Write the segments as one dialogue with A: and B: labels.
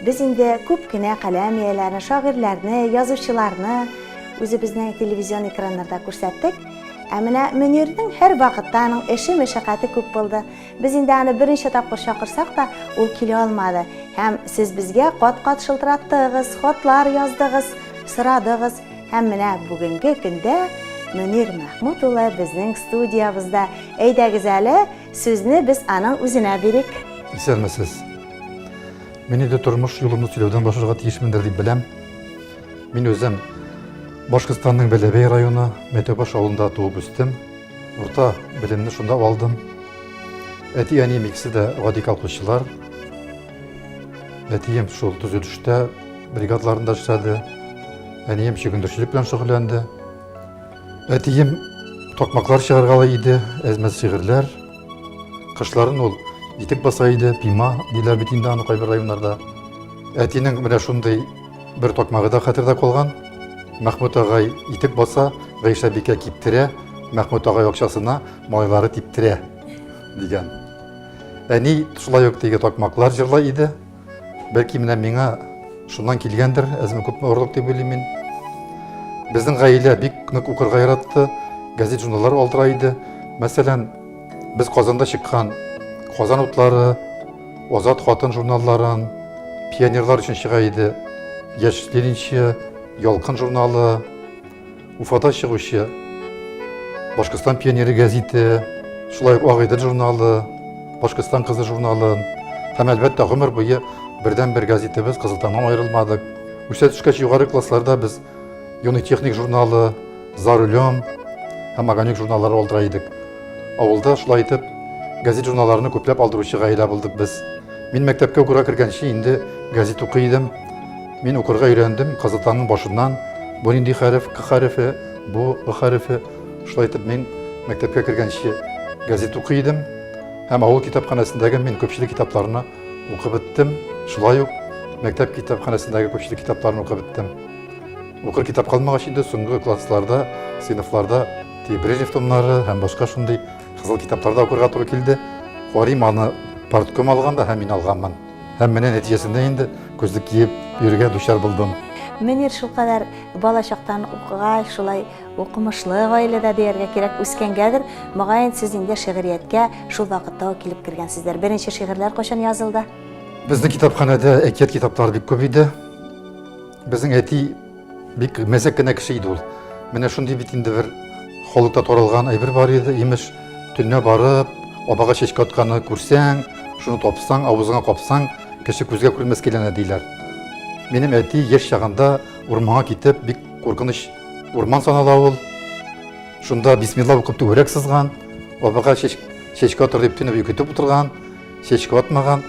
A: Без инде күп кенә каләм ияләрен, шагыйрьләрне, язучыларны үзебезнең телевизион экраннарда күрсәттек. Ә менә Мөнирнең һәрвакытта аның эше, мәшәкате күп булды. Без инде аны берничә тапкыр чакырсак та, ул килә алмады. Һәм сез безгә кат-кат шылтыраттыгыз, хатлар яздыгыз, сорадыгыз. Һәм менә бүгенге көндә Мөнир Мәхмүт улы безнең студиябызда. Әйдәгез әле, сүзне без аның үзенә бирик. Исәнмесез. Мин инде тормыш юлымны сөйләүдән башларга тиешмендер дип беләм. Мин үзем Башкортстанның Бәләбәй районы Мәтәүбаш авылында туып үстем. Урта белемне шунда алдым. Әти-әнием икесе дә гади колхозчылар. Әтием шул төзелештә бригадаларында эшләде. Әнием чөгендерчелек белән шөгыльләнде. Әтием токмаклар чыгаргалы иде, әзмәт шигырьләр Кышларын ул итек баса иде, пима диләр бит инде аны кайбер районнарда. Әтинең менә шундый бер токмагы да хәтердә калган. Мәхмүт агай итек баса, Гайшә бикә киптерә, Мәхмүт агай акчасына майлары типтерә дигән. Әни шулай ук теге токмаклар җырлый иде. Бәлки менә миңа шуннан килгәндер, әзме күпме орлык дип уйлыйм мин. Безнең гаилә бик нык укырга яратты, газет-журналлар алдыра иде. Мәсәлән, без Казанда чыккан Казан утлары, Азат хатын журналларын, пионерлар өчен чыга иде Яшь ленинчы, Ялкын журналы, Уфада чыгучы Башкортстан пионеры гәзите, шулай ук Агыйдел журналы, Башкортстан кызы журналы һәм әлбәттә гомер буе бердән бер газетебез Кызылтаңнан аерылмадык. Үсә төшкәч югары классларда без Юный техник журналы, За рулем һәм Огонек журналлары алдыра идек. Авылда шулай итеп газет журналларны күпләп алдыручы гаилә булдык без. Мин мәктәпкә укырга кергәнче инде газет укый идем. Мин укырга өйрәндем казытаның башыннан. Бу нинди хәреф, к хәрефе, бу ы хәрефе. Шулай итеп мин мәктәпкә кергәнче газет укый идем. Һәм авыл китапханәсендәге мин күпчелек китапларны укып беттем. Шулай ук мәктәп китапханәсендәге күпчелек китапларны укып беттем. Укыр китап калмагач инде соңгы классларда, сыйныфларда Ти Брежнев томнары һәм башка шундый кызыл китапларда укырга туры килде. Карыйм аны партком алганда һәм мин алганмын. Һәм менә нәтиҗәсендә инде күзлек киеп йөрергә дучар булдым. Мөнир шулкадәр бала чактан укыгач, шулай укымышлы гаиләдә дияргә кирәк үскәнгәдер, мөгаен сез инде шигърияткә шул вакытта ук килеп кергәнсездер. Беренче шигырьләр кайчан язылды? Безнең китапханәдә әкият китаплары бик күп иде. Безнең әти Бик мәзәк кенә кеше иде ул. Менә шундый бит инде бер халыкта таралган әйбер бар иде, имеш, төнлә барып, абага чәчкә атканы күрсәң, шуны тапсаң, авызыңа капсаң, кеше күзгә күрмәс киләнә диләр. Минем әти яшь чагында урманга китеп, бик куркыныч урман санала ул. Шунда бисмилла укып түгәрәк сызган, абага чәчкә атыр дип төнләп йөкетеп утырган. чәчкә атмаган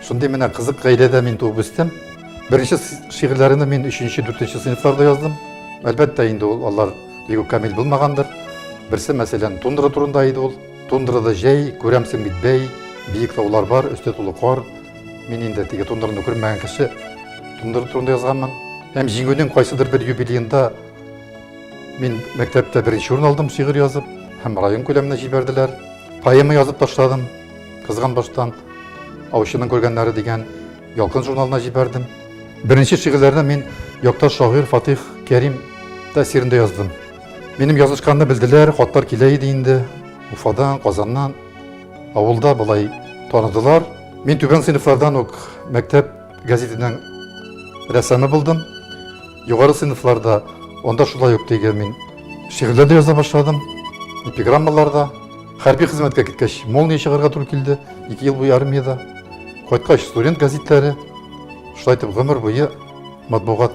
A: шундый менә кызык гаиләдә мин туып үстем беренче шигырьләрне мин өченче дүртенче сыйныфларда яздым әлбәттә инде ул алар бигү камил булмагандыр берсе мәсәлән тундра турында иде ул тундрада җәй күрәмсең бит бәй биек таулар бар өсте тулы кар мин инде теге тундраны күрмәгән кеше тундра турында язганмын һәм җиңүнең кайсыдыр бер юбилеенда Мин мәктәптә беренче урын алдым шигырь язып, һәм район күләменә җибәрделәр. Поэма язып ташладым, кызган баштан, аучының күргәннәре дигән ялкын журналына җибәрдем. Беренче шигырьләрне мин якташ шагыйрь Фатих Кәрим тәэсирендә яздым. Минем язышканны белделәр, хатлар килә иде инде. Уфадан, Казаннан, авылда болай таныдылар. Мин түбән сыйныфлардан ук мәктәп Газетенең рәссамы булдым. Югары сыйныфларда анда шулай ук теге мин шигырьләр дә яза башладым. Эпиграммалар да. Хәрби хезмәткә киткәч, Молния чыгарга туры килде. Ике ел буе армиядә. Кайткач, студент газетләре. Шулай итеп гомер буе матбугат.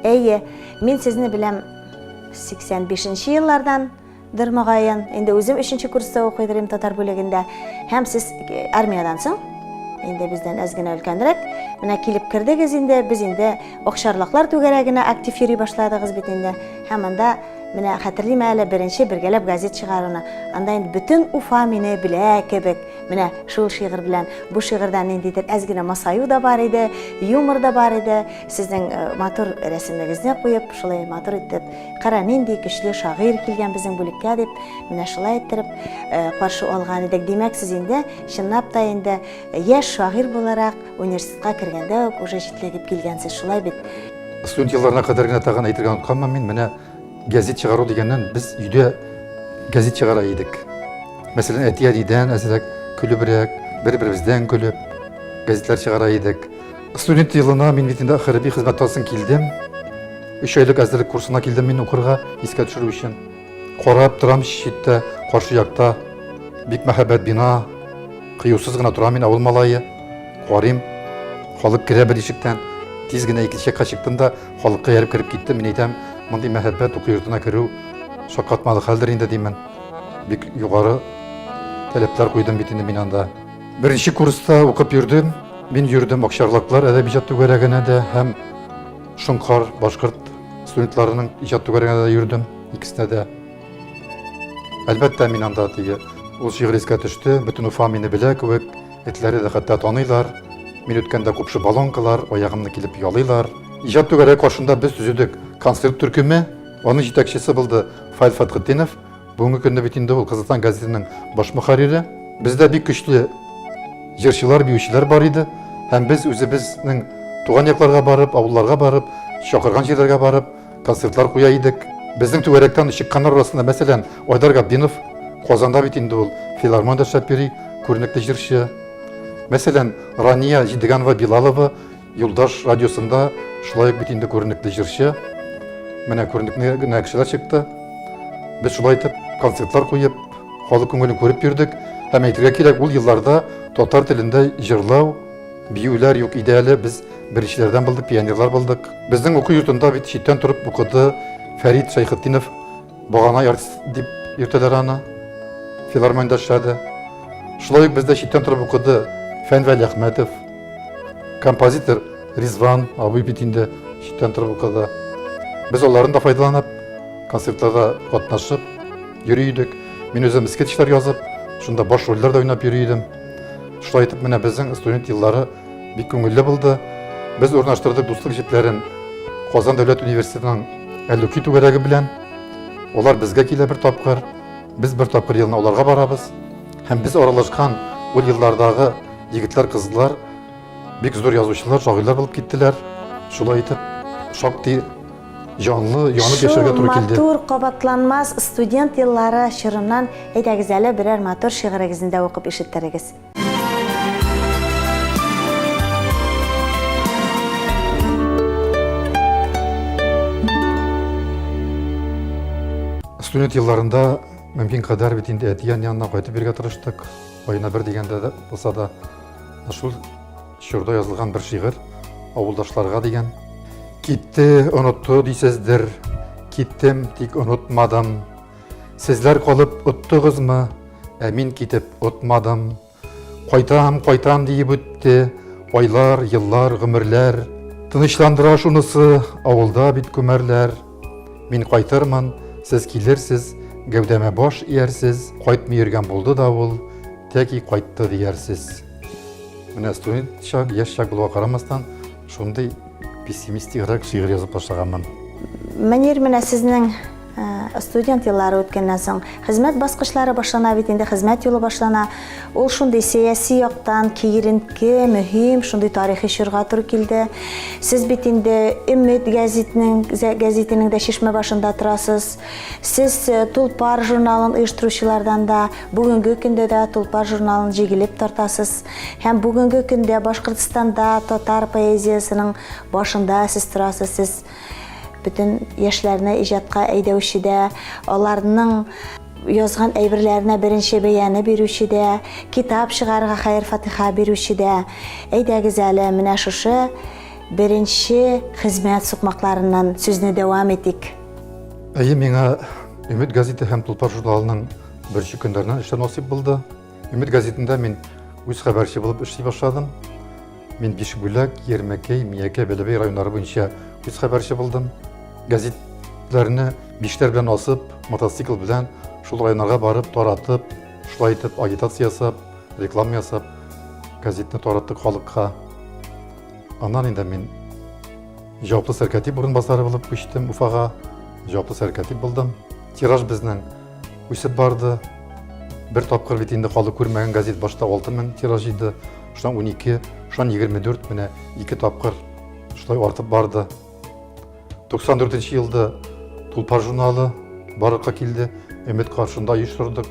A: Әйе, мин сезне беләм 85 нче еллардан. Дыр мөгаен, инде үзем өченче курста укыйдыр идем татар бүлегендә. Һәм сез э, армиядән соң инде бездән әз генә өлкәнрәк. Менә килеп кердегез инде, без инде Акчарлаклар түгәрәгенә актив йөри башладыгыз бит инде. Һәм анда менә хәтерлим әле беренче бергәләп газет чыгаруны. Анда инде бөтен Уфа мине белә кебек. Менә шул шигырь белән бу шигырьдә ниндидер әз генә масаю да бар иде, юмор да бар иде. Сезнең э, матур рәсемегезне куеп, шулай матур итеп Кара, нинди көчле шагыйрь килгән безнең бүлеккә дип, менә шулай иттереп э, каршы алган идек. Димәк, сез инде чынлап та инде э, яшь шагыйрь буларак университетка кергәндә үк уже җитләгеп килгәнсез, шулай бит? Студент елларына кадәр генә тагын әйтергә онытканмын мин, менә газет чыгару дигәннән без өйдә газет чыгара идек. Мәсәлән, әти-әнидән әзрәк, көлебрәк, бер-беребездән көлеп, газетлар чыгара идек. Студент елына мин бит инде хәрби хезмәт алсын килдем. Өч айлык әзерлек курсына килдем мин укырга, искә төшерү өчен. Карап торам читтә, каршы якта. Бик мәһабәт бина. Кыюсыз гына торам мин авыл малае. Карыйм. Халык керә бер ишектән. Тиз генә икенче якка чыктым да, халыкка ярып кереп киттем. Мин әйтәм, мондый мәһабәт уку йортына керү шаккатмалы хәлдер инде димен. Бик югары таләпләр куйдым бит инде мин анда. Беренче курста укып йөрдем. Мин йөрдем Акчарлаклар әдәби иҗат түгәрәгенә дә һәм Шоңкар башкорт студентларының иҗат түгәрәгенә дә йөрдем, икесенә дә. Әлбәттә, мин анда теге ул шигырь искә төште, бөтен Уфа мине белә кебек, этләре дә хәтта таныйлар. Мин үткәндә купшы балонкалар, аягымны килеп ялыйлар. Иҗат түгәрәге каршында без төзедек концерт төркеме, аның җитәкчесе булды Фаил Фәтхетдинов. Бүгенге көндә бит инде ул Казахстан газетының баш мөхәррире. Бездә бик көчле җырчылар, биючеләр бар иде һәм без үзебезнең туган якларга барып, авылларга барып, чакырган җирләргә барып, концертлар куя идек. Безнең түгәрәктән чыкканнар арасында, мәсәлән, Айдар Габдинов, Казанда бит инде ул филармонда эшләп йөри, күренекле җырчы. Мәсәлән, Рания Җидеганова Билалова, Юлдаш радиосында шулай ук бит инде күренекле җырчы. Менә күренекле генә кешеләр чыкты. Без шулай итеп концертлар куеп, халык күңелен күреп йөрдек. Һәм әйтергә кирәк, ул елларда татар телендә җырлау, биюләр юк иде әле. Без беренчеләрдән булдык, пионерлар булдык. Безнең уку йортында бит читтән торып укыды Фәрит Шәйхетдинов Багана артист дип йөртәләр аны. Филармониядә эшләде. Шулай ук бездә читтән торып укыды Фәнвәли Әхмәтов. Композитор Ризван абый бит инде читтән торып укыды. Без аларны да файдаланып, концертларда катнашып йөри идек. Мин үзем скетчлар язып, шунда баш рольләр дә уйнап йөри идем. Шулай итеп, менә безнең студент еллары Бик күңелле булды. Без урнаштырдык дуслык җепләрен Казан дәүләт университетының Әллүки түгәрәге белән. Олар безгә килә бер тапкыр, без бер тапкыр елына оларга барабыз. Һәм без аралашкан ул еллардагы егетләр, кызлар бик зур язучылар, шагыйлар булып киттеләр. Шулай итеп, шактый җанлы, янып яшәргә туры килде. Шул матур, кабатланмас студент еллары чорыннан әйдәгез әле берәр матур шигырегезне дә укып ишеттерегез. Студент елларында мөмкин кадәр бит инде әтиян янына кайтып бергә тырыштык. Айына бер дигәндә дә булса да шул чорда язылган бер шигырь авылдашларга дигән. Китте, онытты дисездер, киттем, тик онытмадым. Сезләр калып оттыгызмы, ә мин китеп отмадым. Кайтам, кайтам диеп үтте, айлар, еллар, гомерләр. Тынычландыра шунысы, авылда бит күмәрләр. Мин кайтырмын, сез килерсез, гәүдәмә баш иярсез, кайтмый йөргән булды да ул, тәки кайтты диярсез. Менә студент чак, яшь чак булуга карамастан, Шундый пессимистик рак шигырь язып башлаганмын. Мөнир, менә сезнең э, студент еллары үткәннән соң хезмәт баскычлары башлана бит инде хезмәт юлы башлана ул шундый сәяси яктан киеренке мөһим шундый тарихи чорга туры килде сез бит инде өмет гәзитнең гәзитенең дә чишмә башында торасыз сез э, тулпар журналын оештыручылардан да бүгенге көндә дә тулпар журналын җигелеп тартасыз Һәм бүгенге көндә Башкортстанда татар поэзиясының башында сез торасыз, сез бөтен яшьләрне иҗатка әйдәүче дә, аларның язган әйберләренә беренче бәяне бирүче дә, китап чыгарга хәер-фатиха бирүче дә. Әйдәгез әле, менә шушы беренче хезмәт сукмакларыннан сүзне дәвам итик. Әйе, миңа Өмет газеты һәм Тулпар журналының беренче көннәреннән эшләр насыйп булды. Өмет газетында мин үз хәбәрче булып эшли башладым. Мин Бишбүләк, Ермәкәй, Миякә, Бәләбәй районнары буенча үз хәбәрче булдым. Газетләрне биштәр белән асып, мотоцикл белән шул районнарга барып таратып, шулай итеп агитация ясап, реклама ясап, газетны тараттык халыкка. Аннан инде мин җаваплы сәркәтип урынбасары булып күчтем Уфага. Җаваплы сәркәтип булдым. Тираж безнең үсеп барды. Бер тапкыр бит инде калды күрмәгән газет башта 6000 тираж иде, шуннан 12, шуннан 24 менә ике тапкыр шулай артып барды. 94 елда Тулпар журналы барлыкка килде, Өмет каршында оештырдык.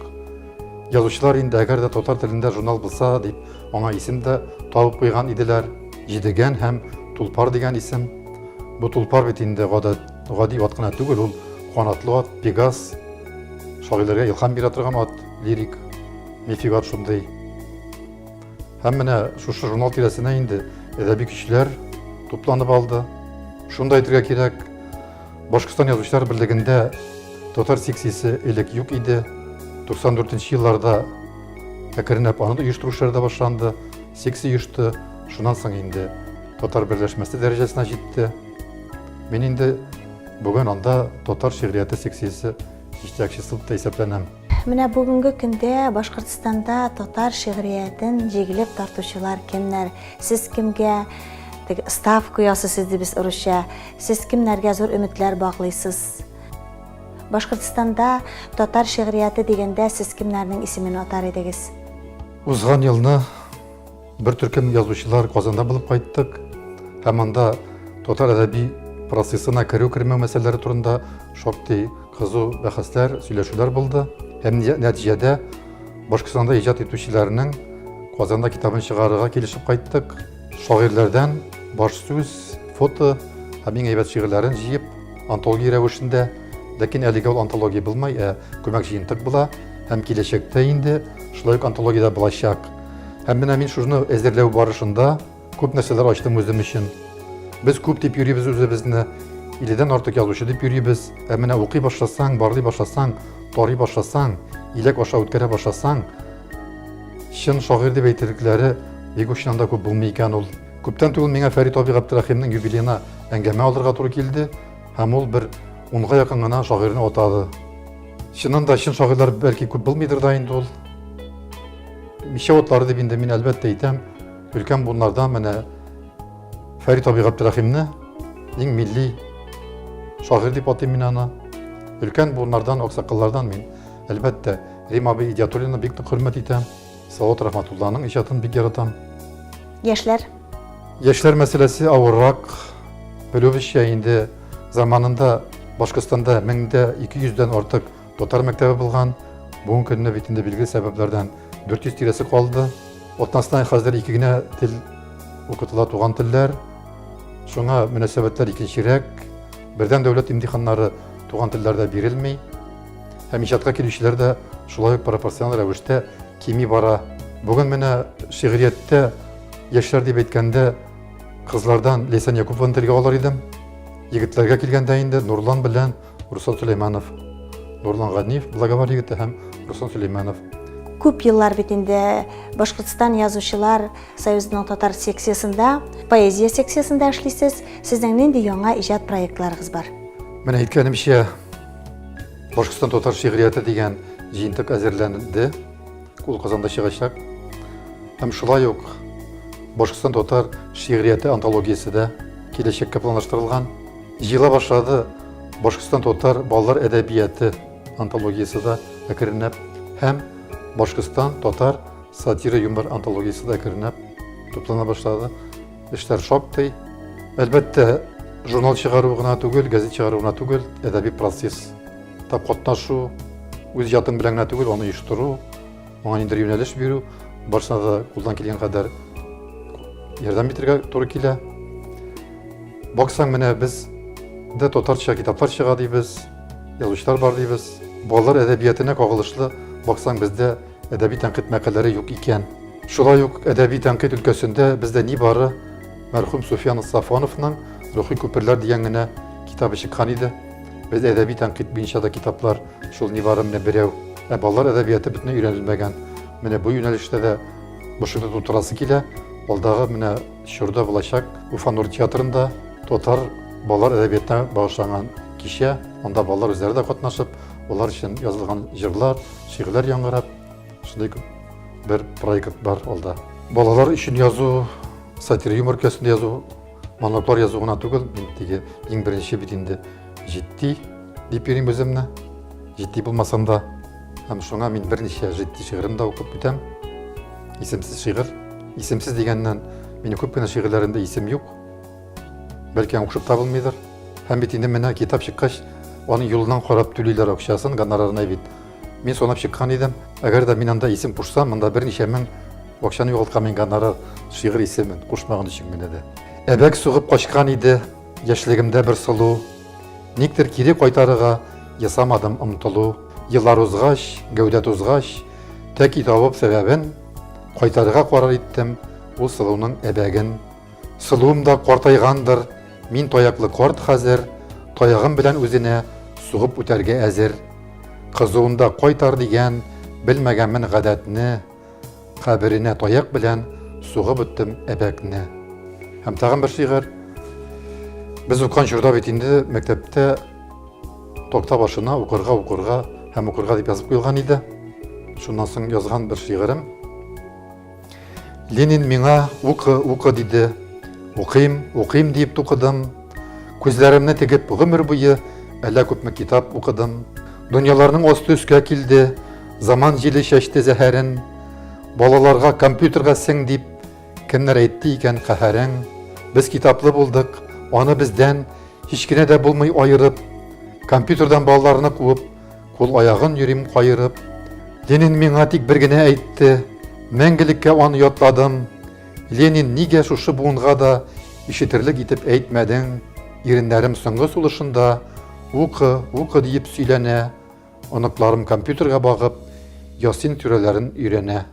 A: Язучылар инде әгәр дә татар телендә журнал булса дип, аңа исем дә табып куйган иделәр. Җидегән һәм Тулпар дигән исем. Бу Тулпар бит инде гадәт Гади ат кына түгел, ул канатлы ат, пегас, шагыйләргә илхам бирә торган ат, лирик, мифик ат шундый. Һәм менә шушы журнал тирәсенә инде әдәби көчләр тупланып алды. Шунда әйтергә кирәк, Башкортстан язучылар берлегендә татар секциясе элек юк иде. 94 нче елларда әкренләп аны да оештыру эшләре дә башланды. Секция оешты. Шуннан соң инде татар берләшмәсе дәрәҗәсенә җитте. Мин инде бүген анда татар шигърияте секциясе җитәкчесе булып исәпләнәм. Менә бүгенге көндә Башкортстанда татар шигъриятен җигелеп тартучылар кемнәр? Сез кемгә теге ставка ясыйсыз дип без урысча. Сез кемнәргә зур өметләр баглыйсыз? Башкортстанда татар шигърияте дигәндә сез кемнәрнең исемен атар идегез? Узган елны Бер төркем язучылар Казанда булып кайттык һәм анда татар әдәби процессына керү-кермәү мәсьәләләре турында шактый кызу бәхәсләр, сөйләшүләр булды. Һәм нәтиҗәдә Башкортстанда иҗат итүчеләрнең Казанда китабын чыгарырга килешеп кайттык. Шагыйрьләрдән баш сүз, фото һәм иң әйбәт шигырьләрен җыеп, антология рәвешендә, ләкин әлегә ул антология булмай, ә күмәк җыентык була һәм киләчәктә инде шулай ук антологиядә булачак. Һәм менә мин шуны әзерләү барышында күп нәрсәләр ачтым үзем өчен. Без күп дип йөрибез үзебезне, иледән артык язучы дип йөрибез. Ә менә укый башласаң, барлый башласаң, тарый башласаң, иләк аша үткәрә башласаң, чын шагыйрь дип әйтерлекләре бик очынан да күп булмый икән ул. Күптән түгел миңа Фәрит абый Габдрәхимнең юбилеена әңгәмә алырга туры килде, һәм ул бер унга якын гына шагыйрьне атады. Чыннан да чын шагыйрьләр бәлки күп булмыйдыр да инде ул. Мичә утлары дип инде мин әлбәттә әйтәм, өлкән буыннардан менә Фәрит абый Габдрәхимне иң милли шагыйрь дип атыйм мин аны. Өлкән буыннардан, аксакаллардан мин әлбәттә Рим абый Идиатуллина бик нык хөрмәт итәм. Салават Рахматулланың иҗатын бик яратам. Яшьләр? Яшьләр мәсьәләсе авыррак. Белүебезчә инде заманында Башкортстанда 1200 дән артык Татар мәктәбе булган бүгенге көнне бит инде билгеле сәбәпләрдән 400 тирәсе калды. Атнасына хәзер ике генә тел укытыла туган телләр. Шуңа мөнәсәбәтләр икенчерәк. Бердәм дәүләт имтиханнары туган телләрдә бирелми. Һәм иҗатка килүчеләр дә шулай ук пропорциональ рәвештә кими бара. Бүген менә шигърияттә яшьләр дип әйткәндә кызлардан Лейсан Якупованы телгә алыр идем. Егетләргә килгәндә инде Нурлан белән Руслан Сөләйманов, Нурлан Ганиев, Благовар егете һәм Руслан Сөләйманов. Күп еллар бит инде Башкортстан язучылар союзының татар секциясендә, поэзия секциясендә эшлисез. Сезнең нинди яңа иҗат проектларыгыз бар? Менә әйткәнемчә, Башкортстан татар шигърияте дигән җыентык әзерләнде. Ул Казанда чыгачак. Һәм шулай ук Башкортстан татар шигърияте антологиясе дә киләчәккә планлаштырылган. Җыела башлады Башкортстан татар балалар әдәбияты антологиясе дә әкренләп һәм Башкортстан татар сатира юмор антологиясе дә әкренләп туплана башлады. Эшләр шактый. Әлбәттә, журнал чыгару гына түгел, газет чыгару гына түгел, әдәби процесс Тап катнашу, үз ятым белән генә түгел, аны оештыру, аңа нидер юнәлеш бирү, барысына да кулдан килгән кадәр ярдәм итәргә туры килә. Баксаң, менә без дә татарча китаплар чыга дибез, язучылар бар дибез. Балалар әдәбиятына кагылышлы баксаң, бездә әдәби тәнкыйть мәкаләләре юк икән. Шулай ук әдәби тәнкыйть өлкәсендә бездә ни бары мәрхүм Суфиян Сафоновның Рухи күперләр дигән генә китабы чыккан иде. Без әдәби тәнкыйть буенча да китаплар шул нибары менә берәү. Ә балалар әдәбияты бөтенләй өйрәнелмәгән. Менә бу юнәлештә дә бушыгып тутырасы килә. Алдагы менә чорда булачак Уфа Нур театрында татар балалар әдәбиятына багышланган кичә. Анда балалар үзләре дә катнашып, алар өчен язылган җырлар, шигырьләр яңгырап, шундый бер проект бар алда. Балалар өчен язу, сатир юмор өлкәсендә язу Моноклор язу гына түгел, мин теге иң беренче бит инде җитди дип йөрим үземне. Җитди булмасам да, һәм шуңа мин берничә җитди шигырен дә укып бетәм. Исемсез шигырь. Исемсез дигәннән, минем күп кенә шигырьләремдә исем юк. Бәлки укшып табылмыйдыр. Һәм бит инде менә китап чыккач, аның юлынан карап түлиләр акчасын, гонорарына бит. Мин санап чыккан идем, әгәр дә мин анда исем кушсам, монда берничә мең акчаны югалткан мин гонорар шигырь исемен кушмаган өчен генә дә. Әбәк сугып качкан иде яшьлегемдә бер сылу. Никтер кире кайтарыга ясамадым омтылу. Еллар узгач, гәүдә тузгач, тәки табып сәбәбен, кайтарыга карар иттем ул сылуның әбәген. Сылуым да картайгандыр, мин таяклы карт хәзер, таягым белән үзенә сугып үтәргә әзер. Кызуында кайтар дигән, белмәгәнмен гадәтне, каберенә таяк белән сугып үттем әбәкне. Һәм тагын бер шигырь. Без укыган чорда бит инде мәктәптә токта башына укырга укырга һәм укырга дип язып куелган иде. Шуннан соң язган бер шигырем. Ленин миңа укы, укы диде. Укыйм, укыйм диеп тукыдым. Күзләремне тегеп гомер буе әллә күпме китап укыдым. Дөньяларның асты өскә килде, заман җиле чәчте зәһәрен. Балаларга компьютерга сең дип кемнәр әйтте икән каһәрең. Без китаплы булдык, аны бездән һич кенә дә булмый аерып, компьютердан балаларны куып, Кул аягын йөрим каерып. Ленин миңа тик бер генә әйтте, мәңгелеккә аны ятладым. Ленин, нигә шушы буынга да ишетерлек итеп әйтмәдең? Иреннәрем соңгы сулышында укы, укы диеп сөйләнә, оныкларым компьютерга багып, Ясин сүрәләрен өйрәнә.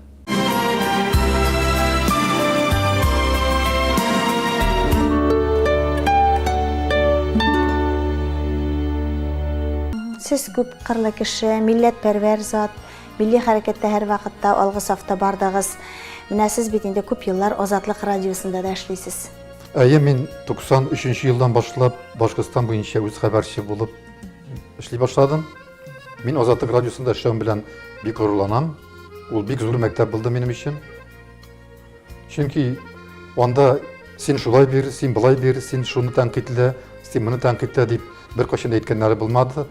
A: Сез күп кырлы кеше, милләт пәрвәр зат, милли хәрәкәттә һәр вакытта алгы сафта бардыгыз. Менә сез бит инде күп еллар Азатлык радиосында да эшлисез. Әйе, мин 93 елдан башлап Башкортстан буенча үз хәбәрче булып эшли башладым. Мин Азатлык радиосында эшләвем белән бик горурланам. Ул бик зур мәктәп булды минем өчен. Чөнки анда син шулай бир, син былай бир, син шуны тәнкыйтьлә, син моны тәнкыйтьлә дип беркайчан да әйткәннәре булмады.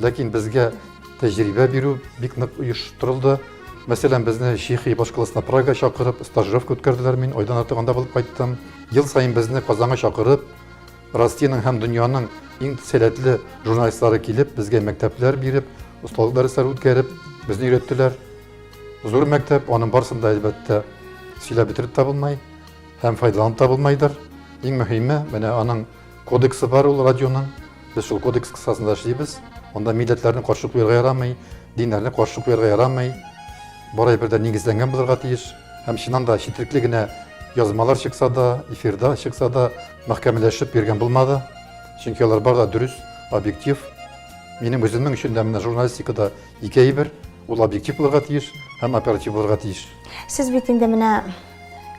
A: Ләкин безгә тәҗрибә бирү бик нык оештырылды. Мәсәлән, безне Чехия башкаласына Прага чакырып, стажировка үткәрделәр. Мин айдан артык анда булып кайттым. Ел саен безне Казанга чакырып, Россиянең һәм дөньяның иң сәләтле журналистлары килеп, безгә мәктәпләр биреп, осталык дәресләре үткәреп, безне өйрәттеләр. Зур мәктәп, аның барысын да, әлбәттә, сөйләп бетереп тә булмай һәм файдаланып та булмайдыр. Иң мөһиме, менә аның кодексы бар ул радионың. Без шул кодекс кысасында эшлибез. Анда милләтләрне каршы куярга ярамый, диннәрне каршы куярга ярамый. Бары бер дә нигезләнгән булырга тиеш. Һәм чыннан да четерекле генә язмалар чыкса да, эфирда чыкса да, мәхкәмәләшеп йөргән булмады. Чөнки алар бар да дөрес, объектив. Минем үземнең өчен дә менә журналистикада ике әйбер, ул объектив булырга тиеш һәм оператив булырга тиеш. Сез бит инде менә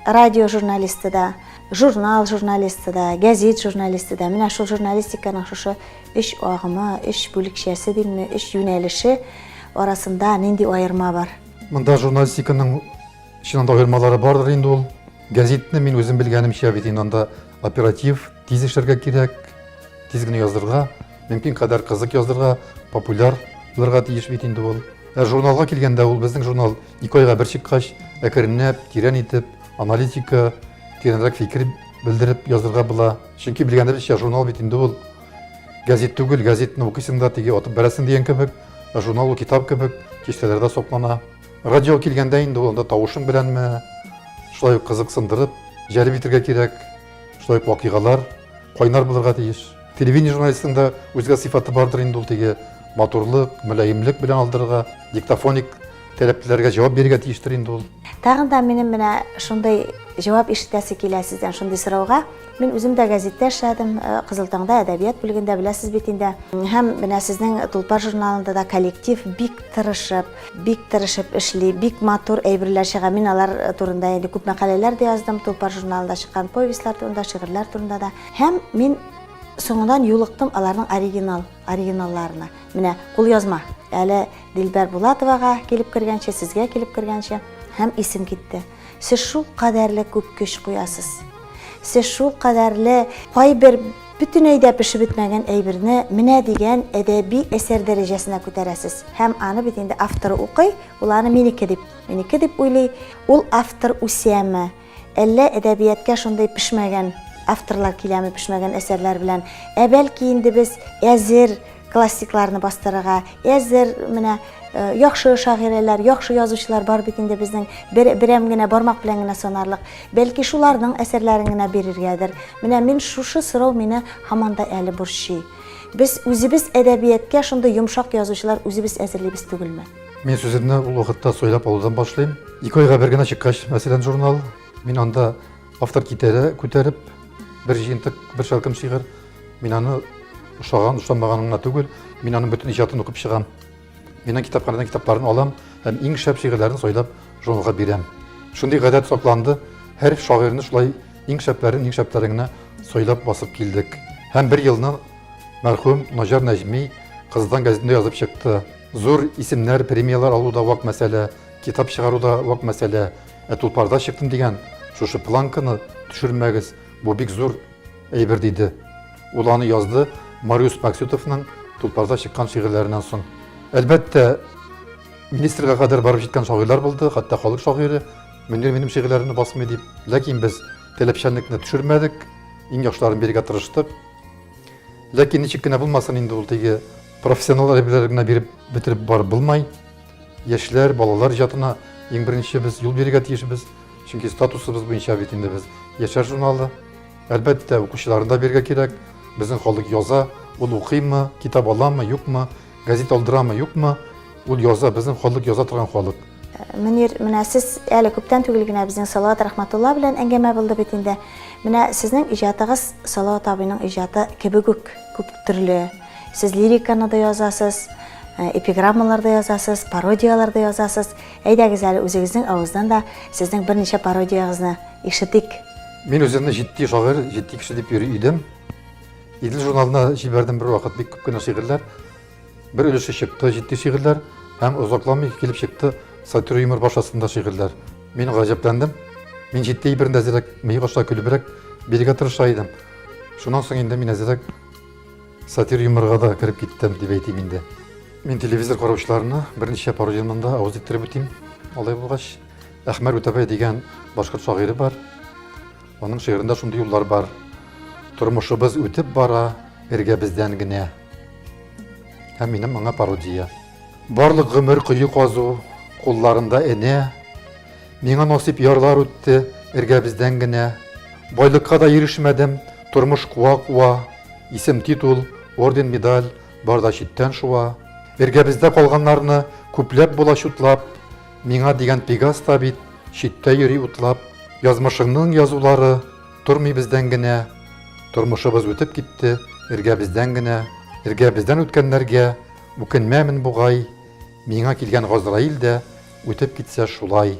A: радио журналисты да, журнал журналисты да, гәзит журналисты да. Менә шул журналистиканың шушы өч агымы, өч бүлекчәсе димме, өч юнәлеше арасында нинди аерма бар? Монда журналистиканың чыннан да аермалары бардыр инде ул. Гәзитне мин үзем белгәнемчә бит инде анда оператив, тиз эшләргә кирәк, тиз генә яздырырга, мөмкин кадәр кызык яздырырга, популяр булырга тиеш бит инде ул. Ә журналга килгәндә ул безнең журнал ике айга бер чыккач, әкренләп, тирән итеп, аналитика, тирәнрәк фикер белдереп язырга була. Чөнки белгәнебезчә, журнал бит инде ул газет түгел, газетны укыйсың да теге атып бәрәсең дигән кебек. Ә журнал ул китап кебек, киштәләрдә соклана. Радио килгәндә инде ул анда тавышың беләнме, шулай ук кызыксындырып, җәлеп итергә кирәк, шулай ук вакыйгалар кайнар булырга тиеш. Телевидение журналистының да үзгә сыйфаты бардыр инде ул теге матурлык, мөлаемлек белән алдырырга, диктофоник таләпләргә җавап бирергә тиештер инде ул. Тагын да минем менә шундый җавап ишетәсе килә сездән шундый сорауга. Мин үзем дә гәзиттә эшләдем, э, Кызыл таңда әдәбият бүлегендә беләсез бит инде. Һәм менә сезнең Тулпар журналында да коллектив бик тырышып, бик тырышып эшли, бик матур әйберләр чыга. Мин алар э, турында инде күп мәкаләләр дә яздым, Тулпар журналында чыккан повестьлар турында, шигырьләр турында да. Һәм мин соңыннан юлыктым аларның оригинал оригиналларына. Менә кул язма. Әле Дилбәр Булатовага килеп кергәнче, сезгә килеп кергәнче һәм исем китте. Сез шул кадәрле күп көч куясыз. Сез шул кадәрле кайбер бөтенләй дә пешеп бетмәгән әйберне менә дигән әдәби әсәр дәрәҗәсенә күтәрәсез. Һәм аны бит инде автор укый, ул аны минеке дип, минеке дип уйлый. Ул автор үсәме? Әллә әдәбияткә шундый пешмәгән авторлар киләме, пешмәгән әсәрләр белән? Ә бәлки инде без әзер Классикларны бастырырга әзер менә э, яхшы шагыйрәләр, яхшы язучылар бар бит инде безнең бер, берәм генә бармак белән генә санарлык. Бәлки шуларның әсәрләрен генә бирергәдер. Менә мин шушы сорау мине һаман да әле борчый. Без үзебез әдәбияткә шундый йомшак язучылар үзебез әзерлибез түгелме? Мин сүземне ул вакытта сойлап алудан башлыйм. Ике айга бер генә чыккач, мәсәлән, журнал, мин анда автор китере күтәреп бер җыентык, бер шәлкем шигырь Мин аны ошаган, ошамаган гына түгел, мин аның бөтен иҗатын укып чыгам. Мин китапханадан китапларын алам һәм иң шәп шигырьләрен сайлап журналга бирәм. Шундый гадәт сакланды, һәр шагыйрьне шулай иң шәпләрен, иң шәпләрен генә сайлап басып килдек. Һәм бер елны мәрхүм Наҗар Нәҗми кыздан газетында язып чыкты. Зур исемнәр, премиялар алу да вак мәсьәлә, китап чыгару да вак мәсьәлә. Ә тулпарда чыктым дигән шушы планканы төшермәгез, бу бик зур Әйбер диде. Ул аны язды Мариус Максютовның Тулпарда чыккан шигырьләреннән соң. Әлбәттә, министрга кадәр барып җиткән шагыйрьләр булды, хәтта халык шагыйре Мөнир минем шигырьләремне басмый дип. Ләкин без таләпчәнлекне төшермәдек, иң яхшыларын бирергә тырыштык. Ләкин ничек кенә булмасын инде ул теге профессионал әйберләре генә биреп бетереп барып булмай. Яшьләр, балалар иҗатына иң беренче без юл бирергә тиешбез, чөнки статусыбыз буенча бит инде без яшьләр журналы. Әлбәттә, укучыларын да бирергә кирәк. Безнең халык яза, ул укыймы, китап аламы, юкмы, газета алдырамы, юкмы, ул яза, безнең халык яза торган халык. Мөнир, менә сез әле күптән түгел генә безнең Салават Рәхмәтулла белән әңгәмә булды бит инде. Менә сезнең иҗатыгыз Салават абыйның иҗаты кебек үк күп төрле. Сез лириканы да язасыз, э, эпиграммалар да язасыз, пародияләр дә язасыз. Әйдәгез әле үзегезнең авыздан да сезнең берничә пародиягызны ишетик. Мин үземне җитди шагыйрь, җитди кеше дип йөри идем. Идел журналына җибәрдем бер вакыт бик күп кенә шигырьләр. Бер өлеше чыкты җитди шигырьләр һәм озакламый килеп чыкты сатир юмор башасында шигырьләр. Мин гаҗәпләндем. Мин җитди бер әзрәк, мыек аша көлебрәк бирергә тырыша идем. Шуннан соң инде мин әзрәк Сатир юморга да кереп киттем дип әйтим инде. Мин телевизор караучыларына берничә пародиямнан да авыз иттереп үтим. Алай булгач, Әхмәр Үтәбай дигән башкорт шагыйре бар. Аның шигырында шундый юллар бар. Тормышыбыз үтеп бара, эргәбездән генә. Һәм минем аңа пародия. Барлык гомер кое казу, кулларында энә, Миңа насыйп ярлар үтте эргәбездән генә. Байлыкка да ирешмәдем, тормыш куа-куа, Исем-титул, орден-медаль бар да читтән шуа. Эргәбездә калганнарны күпләп була чутлап, Миңа дигән Пегас та бит читтә йөри утлап. Язмышыңның язулары тормый бездән генә, Тормышыбыз үтеп китте эргәбездән генә. Эргәбездән үткәннәргә Үкенмәмен бугай, Миңа килгән Газраил дә Үтеп китсә шулай.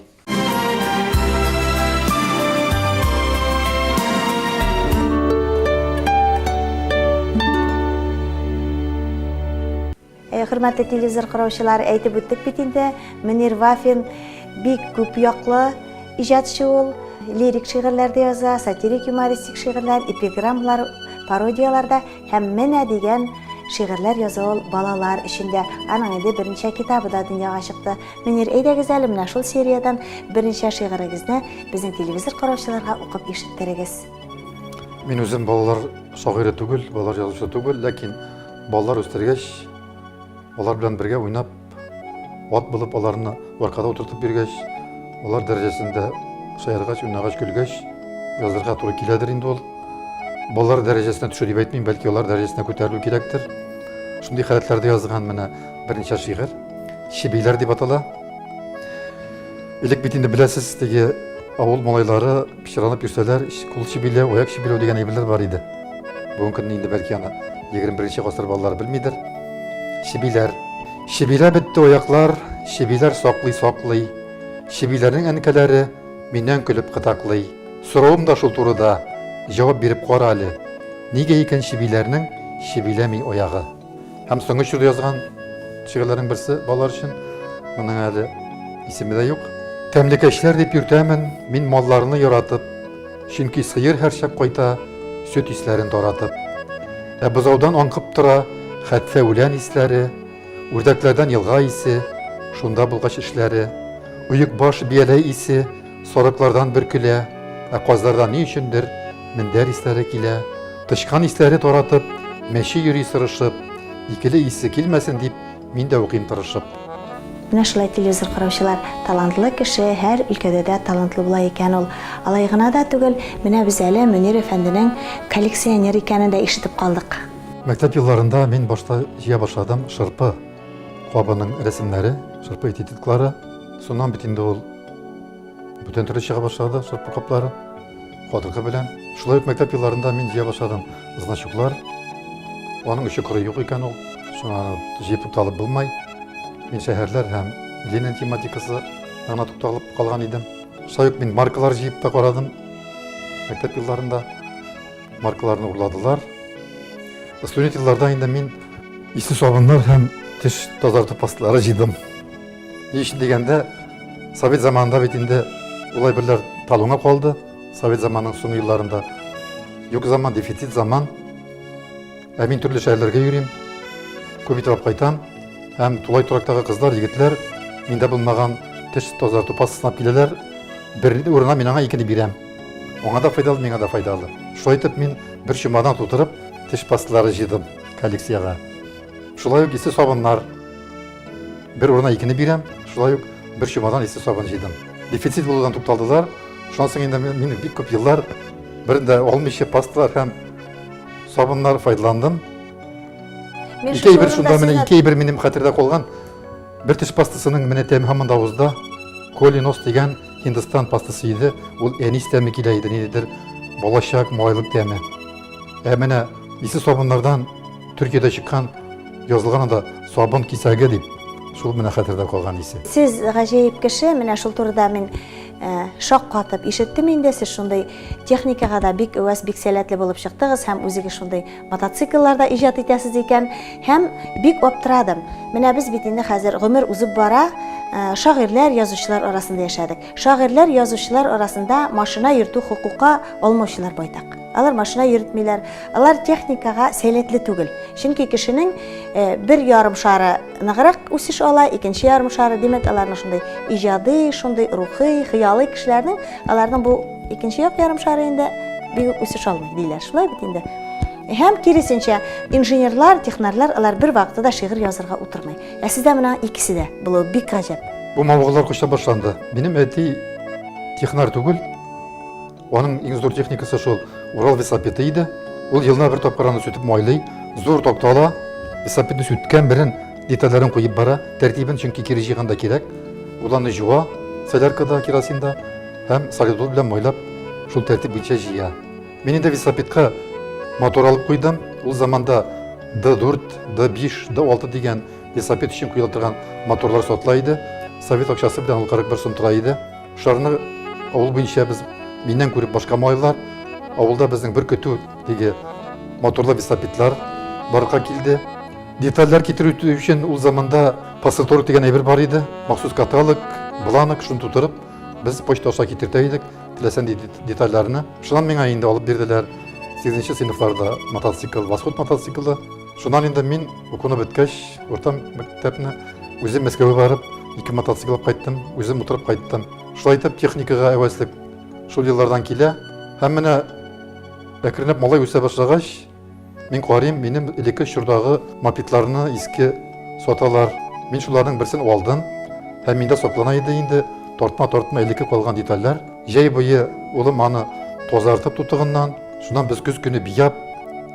A: Хөрмәтле телевизор караучылар, әйтеп үттек бит инде, Мөнир Вафин бик күп яклы иҗатчы ул. Лирик шигырьләр дә яза, сатирик юмористик шигырьләр, эпиграммалар, пародияләр дә Һәм менә дигән шигырьләр яза ул балалар өчен дә. Аның инде берничә китабы да дөньяга чыкты. Мөнир, әйдәгез әле менә шул сериядән берничә шигырегезне безнең телевизор караучыларга укып ишеттерегез. Мин үзем балалар шагыйре түгел, балалар язучысы түгел, ләкин балалар үстергәч, алар белән бергә уйнап, Ат булып аларны варкада утыртып биргәч, алар дәрәҗәсендә шаяргач, уйнагач, көлгәч, язырга туры киләдер инде ул. Балалар дәрәҗәсенә төшә дип әйтмим, бәлки алар дәрәҗәсенә күтәрелү кирәктер. Шундый халәтләрдә язган менә берничә шигырь. Чебиләр дип атала. Элек бит инде беләсез, теге авыл малайлары Пычранып йөрсәләр, кул чебиләү, аяк чебиләү дигән әйберләр бар иде. Бүгенге көнне инде бәлки аны 21 нче гасыр балалары белмидер. Чебиләр. Чебилә бетте аяклар, чебиләр саклый-саклый. Чебиләрнең әнкәләре миннән көлеп кытаклый. Соравым да шул турыда, җавап биреп кара әле. Нигә икән чебиләрнең чебиләми аягы? Һәм соңгы чор язган шигырьләрнең берсе балалар өчен. Моның әле исеме дә юк. Тәмлекәчләр дип йөртәмен, мин малларны яратып, чөнки сыер һәрчак кайта, сөт исләрен таратып. Ә бозаудан аңкып тора, хәтфә үлән исләре, үрдәкләрдән елга исе, шунда булгач эшләре. Оекбаш бияләй исе, Сарыклардан бер көлә, ә казлардан ни өчендер мендәр исләре килә. Тычкан исләре таратып, мәче йөри сырышып, икеле исе килмәсен дип, мин дә укыйм тырышып. Менә шулай телевизор караучылар, талантлы кеше һәр өлкәдә дә талантлы була икән ул. Алай гына да түгел, менә без әле Мөнир әфәнденең коллекционер икәнен дә ишетеп калдык. Мәктәп елларында мин башта җыя башладым шырпы кабының рәсемнәре, шырпы этитетлары. Шуннан бит инде ул Бүтән төрле чыга башлады, сорт каплары, кадыргы белән. Шулай ук мәктәп елларында мин җыя башладым значоклар. Аның өчен кыры юк икән ул, шуңа җыеп тукталып булмай. Мин шәһәрләр һәм Ленин тематикасы гына тукталып калган идем. Шулай ук мин маркалар җыеп та карадым. Мәктәп елларында маркаларны урладылар. Студент елларда инде мин исле сабыннар һәм теш тазарту пасталары җыйдым. Еш дигәндә, совет заманында бит инде улай берләр талуңа калды, совет заманының соң елларында. Юк заман, дефицит заман. Ә мин төрле шәһәрләргә йөрим, күп итеп кайтам. Һәм тулай турактагы кызлар, егетләр миндә булмаган теш тазарту пастасына киләләр. Бер урына мин аңа икене бирәм. Аңа да файдалы, миңа да файдалы. Шулай итеп мин бер чемодан тутырып теш пасталары җыйдым коллекциягә. Шулай ук исе сабыннар, Бер урына икене бирәм, шулай ук бер чемодан иске сабын җыйдым. Дефицит булудан тукталдылар. Шуннан соң инде мин бик күп еллар берендә алмыйча пасталар һәм сабыннар файдаландым. Ике әйбер шунда менә ике әйбер минем хәтердә калган. Бер теш пастасының менә тәме һаман да авызда. Колинос дигән Һиндстан пастасы иде. Ул әнис тәме килә иде, ниндидер балачак, малайлык тәме. Ә менә исе сабыннардан Төркиядә чыккан язылган анда сабын кисәге дип, шул менә хәтердә калган исе. Сез гаҗәеп кеше, менә шул турыда мин э, шаккатып ишеттем инде. Сез шундый техникага да бик өвәс, бик сәләтле булып чыктыгыз һәм үзегез шундый мотоциклларда иҗат итәсез икән һәм бик аптырадым. Менә без бит инде хәзер гомер узып бара, э, шагыйрьләр, язучылар арасында яшәдек. Шагыйрьләр, язучылар арасында машина йөртү хокукы алмаучылар байтак. Алар машина йөртмиләр, алар техникага сәләтле түгел. Чөнки кешенең э, бер ярым шары ныграк үсеш ала, икенче ярым шары, димәк, аларның шундый иҗади, шундый рухи, хыялый кешеләрнең, аларның бу икенче як ярым шары инде бигүк үсеш алмый, диләр. Шулай бит инде. Һәм киресенчә, инженерлар, технарлар алар бер вакытта да шигырь язарга утырмый. Ә сездә менә икесе дә булу бик гаҗәп. Бу мавыгулар кочта башланды. Минем әти технар түгел, Аның иң зур техникасы шул Урал весопеты иде. Ул елына бер тапкыр аны сүтеп майлый, зур тапта ала, весопетны сүткән белән детальләрен куеп бара, тәртибен, чөнки кире җыйганда кирәк. Ул аны җуа, соляркада, керосинда һәм солидол белән майлап, шул тәртип буенча җыя. Мин инде весопетка мотор алып куйдым. Ул заманда D4, D5, D6 дигән весопет өчен куела торган моторлар сатыла иде. Совет акчасы белән ул 41 сум тора иде. Шарны авыл буенча без миннән күреп башка малайлар авылда безнең бер көтү диге моторлы весопитлар барга килде. Детальләр китерү өчен ул заманда пассатор дигән әйбер бар иде. Махсус каталог, бланок шуны тутырып, без почта аша китертә идек теләсән детальләрне. Шуннан миңа инде алып бирделәр. 8 сыйныфларда мотоцикл, восход мотоциклы. Шуннан инде мин укуны беткәч, урта мәктәпне үзем Мәскәүгә барып, ике мотоцикл алып кайттым, үзем утырып кайттым. Шулай итеп техникага әвәслек шул еллардан килә. Һәм менә әкренләп малай үсә башлагач, мин карыйм, минем элекке чордагы мопедларны иске саталар. Мин шуларның берсен алдым һәм миндә саклана иде инде тартма-тартма элекке калган детальләр. Җәй буе улым аны тазартып тутыгыннан, шуннан без көз көне бияп,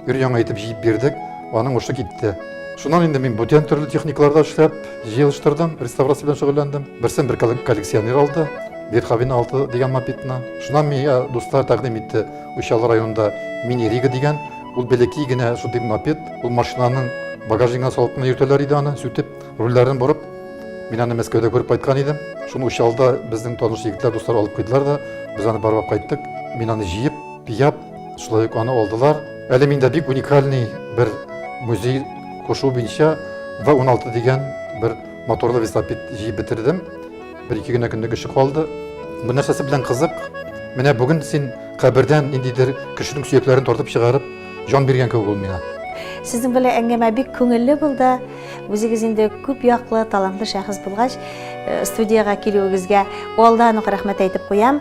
A: Өр-яңа итеп җыеп бирдек, аның ушы китте. Шуннан инде мин бүтән төрле техникаларда эшләп, җыелыштырдым, реставрация белән шөгыльләндем. Берсен бер коллекционер алды, Бетховен 6 дигән мопедны. Шуннан миңа дуслар тәкъдим итте, Учалы районында Мини Рига дигән, ул бәләкәй генә шундый мопед, ул машинаның багажнигына салып кына йөртәләр иде аны, сүтеп, рульләрен борып. Мин аны Мәскәүдә күреп кайткан идем. Шуны Учалда безнең таныш егетләр, дуслар алып куйдылар да, без аны барлап кайттык. Мин аны җыеп, пияп, Шулай ук аны алдылар. Әле миндә бик уникальный бер музей кушу буенча В16 дигән бер моторлы велосипед җыеп бетердем. Бер-ике генә көнлек эше калды. Бу нәрсәсе белән кызык? Менә бүген син кабердән ниндидер кешенең сөякләрен тартып чыгарып, җан биргән кебек ул миңа. Сезнең белән әңгәмә бик күңелле булды. Үзегез инде күп яклы, талантлы шәхес булгач, э, студиягә килүегезгә алдан ук рәхмәт әйтеп куям.